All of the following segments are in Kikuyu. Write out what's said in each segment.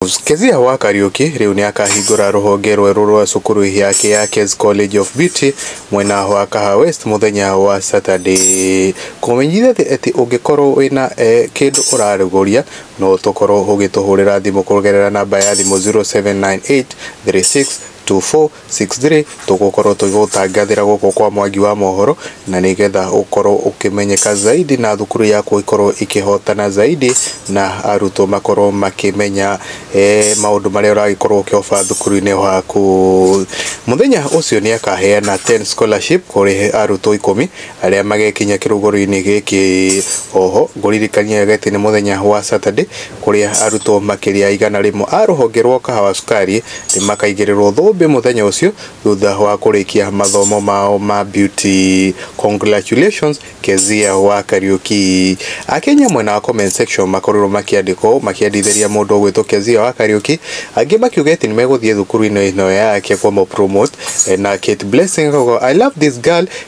News. Kezia wa Kariuki rĩu nĩ akahingũra rũhonge rwerũ rwa cukuru yake ya Kez College of Beauty mwena wa Kaha West mũthenya wa Saturday. Kũmenyithia atĩ atĩ ũngĩkorwo wĩna eh, kĩndũ ũrarũgũria no tũkorwo ũgĩtũhũrĩra thimũ kũgerera namba ya thimũ 0798 36 24 Sixthly, tũgũkorwo tũgĩgũtangathĩra gũkũ kwa Mwangi wa Mohoro na nĩ getha ũkorwo ũkĩmenyeka zaidi na thukuru yaku ĩkorwo ĩkĩhotana zaidi na arutwo makorwo makĩmenya eh, maũndũ marĩa ũragĩkorwo ũkĩoba thukuru-inĩ waku. Mũthenya ũcio nĩ akaheana 10 scholarship kũrĩ arutwo ikũmi arĩa magekinya kĩrũgũrũ-inĩ gĩkĩ. Oho ngũririkanie atĩ nĩ mũthenya wa Saturday kũrĩa arutwo makĩria ya igana rĩmwe a rũhonge rwa Kahawa Sukari nĩ makaigĩrĩrwo thũmbĩ mũthenya ũcio thutha wa kũrĩkia mathomo mao ma beauty. Congratulations Kezia wa Kariuki. Akenya mwena wa comment section makorirwo makĩandĩka ũũ makĩendithĩria mũndũ ũgwĩtwo Kezia wa Kariuki, angĩ makiuga atĩ nĩ megũthiĩ thukuru-inĩ ĩno yake kũmũ promote na Kate Blessing akauga I love this girl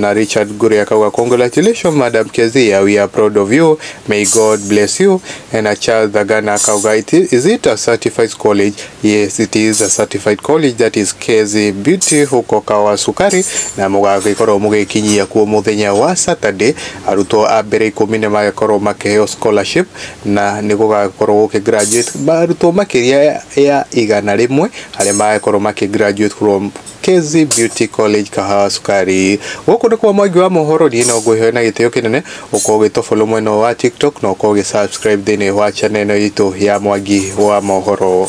Na Richard Gure akauga congratulations Madam Kezia, we are proud of you, may God bless you. Na Charles Dhagana akauga "It i- is it a certified college? Yes, it is a certified college that is Kezi Beauty huko Kawasukari na mũgagĩkorwo mũgĩkinyia kuo mũthenya wa Saturday. Arutwo a mbere ikũmi nĩ magĩkorwo makĩheo scholarship na nĩ gũgagĩkorwo gũkĩ graduate arutwo makĩria ya igana rĩmwe arĩa magagĩkorwo makĩ graduate from Kezi Beauty College Kahawa Sukari. Gũkũ nĩkuo mwangi wa mohoro niĩ no ngwĩhoe na gĩtĩo kĩnene ũkorwo ũgĩtofollow mwena ũyũ wa TikTok na ũkorwo ũgĩsubscribe thĩinĩ wa channel ĩno itũ ya mwangi wa mohoro.